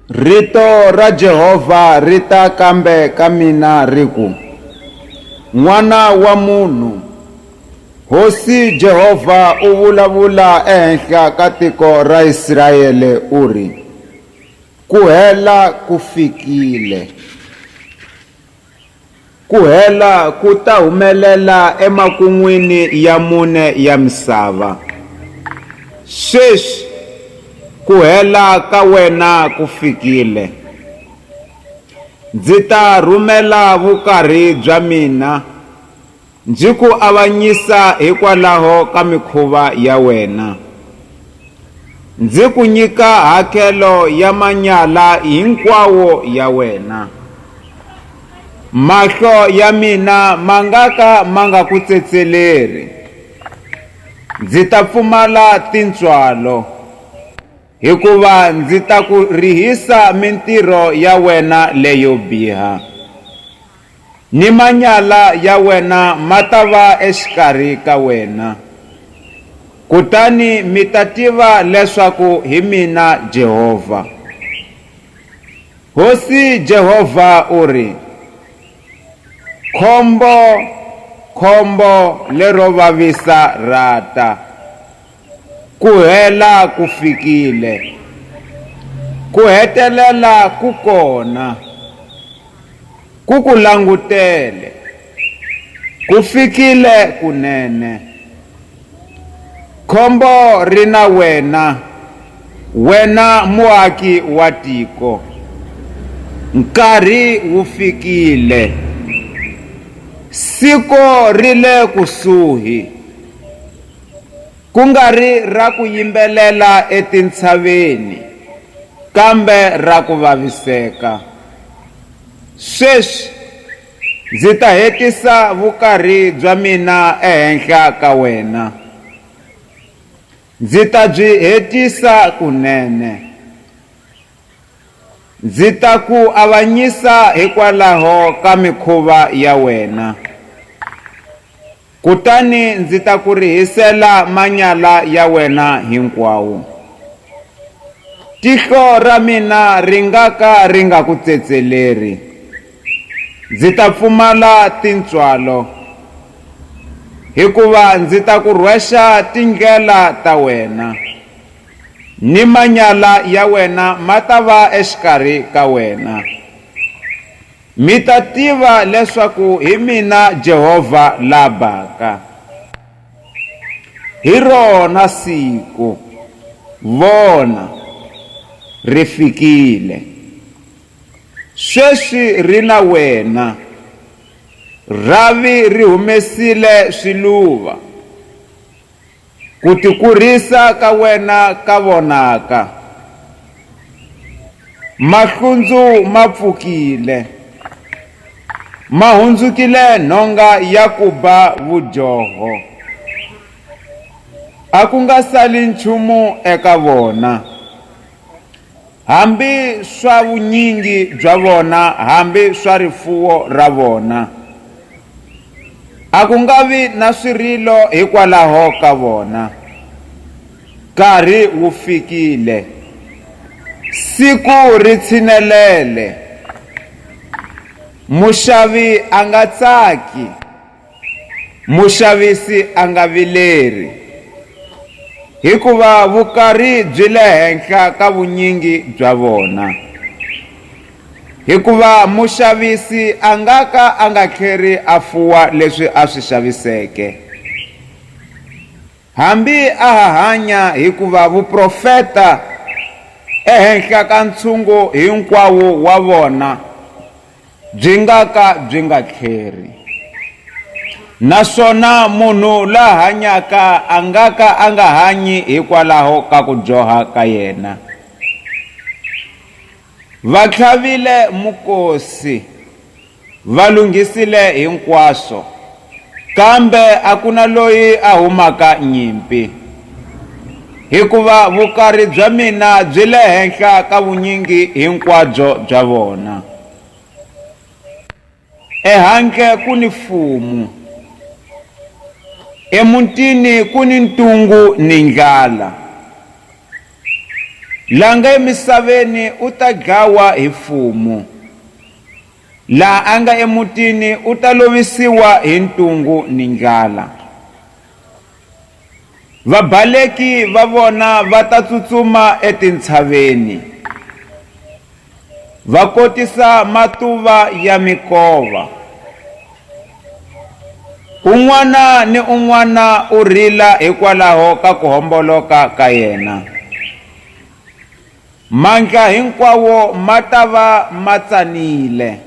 Rito ra Jehova ri ta kambe ka mina ri ku, N'wana wa munhu, Hosi Jehova u vulavula ehenhla ka tiko ra Israele u ri, Ku hela ku fikile. Ku hela ku ta humelela emakun'wini ya mune ya misava. Sweswi, ku hela ka wena ku fikile. Ndzi ta rhumela vukarhi bya mina Ndzi ku avanyisa hikwalaho ka mikhuva ya wena, ndzi ku nyika hakelo ya manyala hinkwawo ya wena. Mahlo ya mina ma nga ka ma nga ku tsetseleri, ndzi ta pfumala tintswalo. Hikuva ndzi ta ku rihisa mintirho ya wena leyo biha, Ni manyala ya wena ma ta va exikarhi ka wena. Kutani mi ta tiva leswaku hi mina Jehovha. Hosi Jehovha u ri, Khombo, khombo lero vavisa ra ta! Ku hela ku fikile. Ku hetelela ku kona. Ku ku langutele. Ku fikile kunene. Khombo ri na wena, wena muaki wa tiko. Nkarhi wu fikile. Siku ri le kusuhi. ku nga ri ra ku yimbelela etintshaveni, kambe ra ku vaviseka. Sweswi ndzi ta hetisa vukarhi bya mina ehenhla ka wena. Ndzi ta byi hetisa kunene. Ndzi ta ku avanyisa hikwalaho ka mikhuva ya wena. Kutani ndzi ta ku rihisela manyala ya wena hinkwawo. Tihlo ra mina ri nga ka ri nga ku tsetseleri, ndzi ta pfumala tintswalo, hikuva ndzi ta ku rhwexa tindlela ta wena, ni manyala ya wena ma ta va exikarhi ka wena. Mi ta tiva leswaku hi mina Jehovha la baka. Hi rona siku, vona, ri fikile. Sweswi ri na wena. Rhavi ri humesile swiluva. Ku tikurhisa ka wena ka vonaka. Mahlundzu ma pfukile. Ma hundzukile nhonga ya ku ba vudyoho. A ku nga sali nchumu eka vona. Hambi swa vunyingi bya vona, hambi swa rifuwo ra vona. A ku nga vi na swirilo hikwalaho ka vona. Nkarhi wu fikile. Siku ri tshinelele. Muxavi a nga tsaki. Muxavisi a nga vileri, hikuva vukarhi byi le henhla ka vunyingi bya vona. Hikuva muxavisi a nga ka a nga tlheri a fuwa leswi a swi xaviseke, hambi a ha hanya, hikuva vuprofeta ehenhla ka ntshungu hinkwawo wa vona, byi nga ka byi nga tlheri, naswona munhu la hanyaka a nga ka a nga hanyi hikwalaho ka ku dyoha ka yena. Va tlhavile mukosi, va lunghisile hinkwaswo. Kambe a ku na loyi a humaka nyimpi, hikuva vukari bya mina byi le henhla ka vunyingi hinkwabyo bya vona. Ehandle ku ni fumu, emutini ku ni ntungu ni ndlala, la nga emisaveni u ta dlawa hi fumu. La a nga emutini u ta lovisiwa hi ntungu ni ndlala. Vabaleki va vona va ta tsutsuma etintshaveni, va kotisa matuva ya mikova. Un'wana ni un'wana u rila hikwalaho ka ku homboloka ka yena. Mandla hinkwawo ma ta va ma tsanile,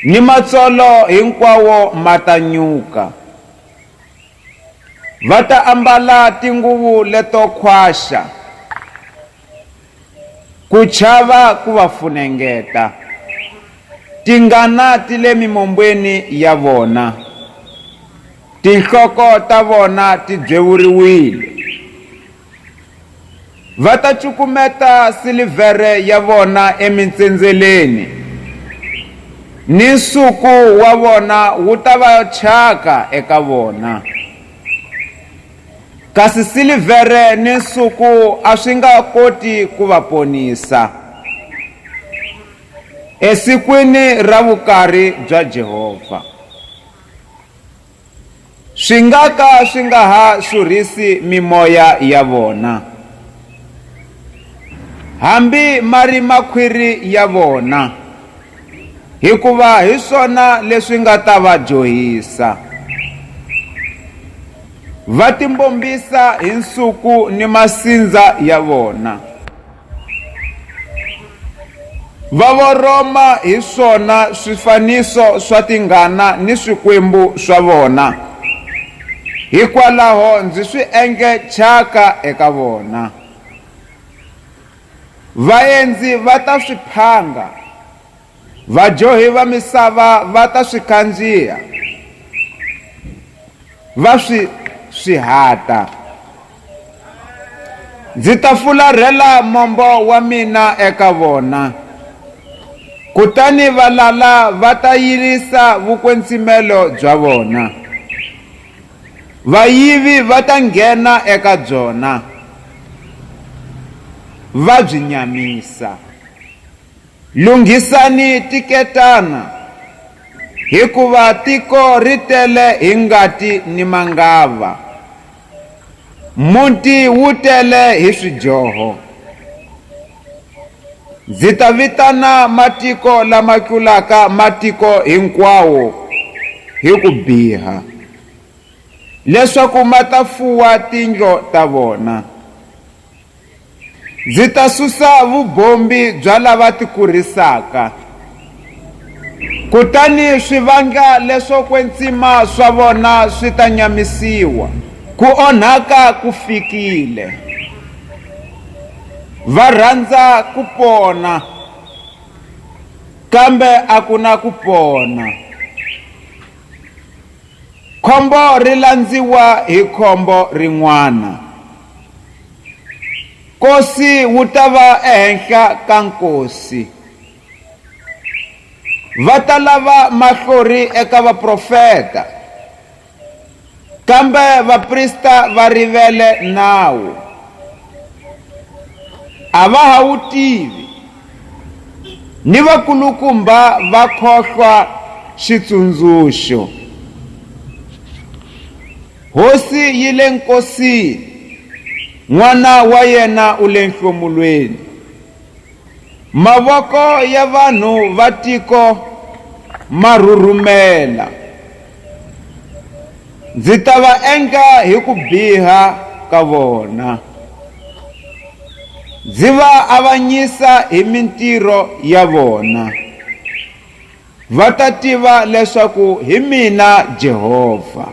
Ni matsolo hinkwawo ma ta nyuka. Va ta ambala tinguvu leto khwaxa, Ku chava ku va funengeta. Tingana ti le mimombweni ya vona, Tinhloko ta vona ti byewuriwile. Va ta cukumeta silivhere ya vona emintsendzheleni, Ni nsuku wa vona wu ta va thyaka eka vona. Kasi silivhere ni nsuku a swi nga koti ku va ponisa, Esikwini ra vukarhi bya Jehovha. swi nga ka swi nga ha xurhisi mimoya ya vona, hambi ma ri makhwiri ya vona, hikuva hi swona leswi nga ta va dyohisa. Va timbombisa hi nsuku ni masindza ya vona. Va voroma hi swona swifaniso swa tinghana ni swikwembu swa vona, hikwalaho ndzi swi endle thyaka eka vona. Vaendzi va ta swi phanga, Vadyohi va misava va ta swi kandziha, va swi swihata. Ndzi ta fularhela mombo wa mina eka vona, kutani valala va ta yirisa vukwetsimelo bya vona. Vayivi va ta nghena eka byona, va byi nyamisa. Lunghisani tiketana, hikuva tiko ri tele hi ngati ni mangava, muti wu tele hi swidyoho. Ndzi ta vitana matiko lama tlulaka matiko hinkwawo hi ku biha, leswaku ma ta fuwa tindlo ta vona. Ndzi ta susa vubombi bya lava tikurisaka, kutani swi vanga leswo kwetsima swa vona swi ta nyamisiwa, ku onhaka ku fikile. Va rhandza ku pona, kambe a ku na ku pona. Khombo ri landziwa hi khombo rin'wana. Nkosi wu ta va ehenhla ka nkosi. Va ta lava mahlori eka vaprofeta, kambe vaprista va rivele nawu. A va ha wu tivi, ni vakulukumba va khohlwa xitsundzuxo. Hosi yi le nkosini, N'wana wa yena u le nhlomulweni. Mavoko ya vanhu va tiko ma rhurhumela, Ndzi ta va endla hi ku biha ka vona, Ndzi va avanyisa hi mintirho ya vona. Va ta tiva leswaku hi mina Jehovha.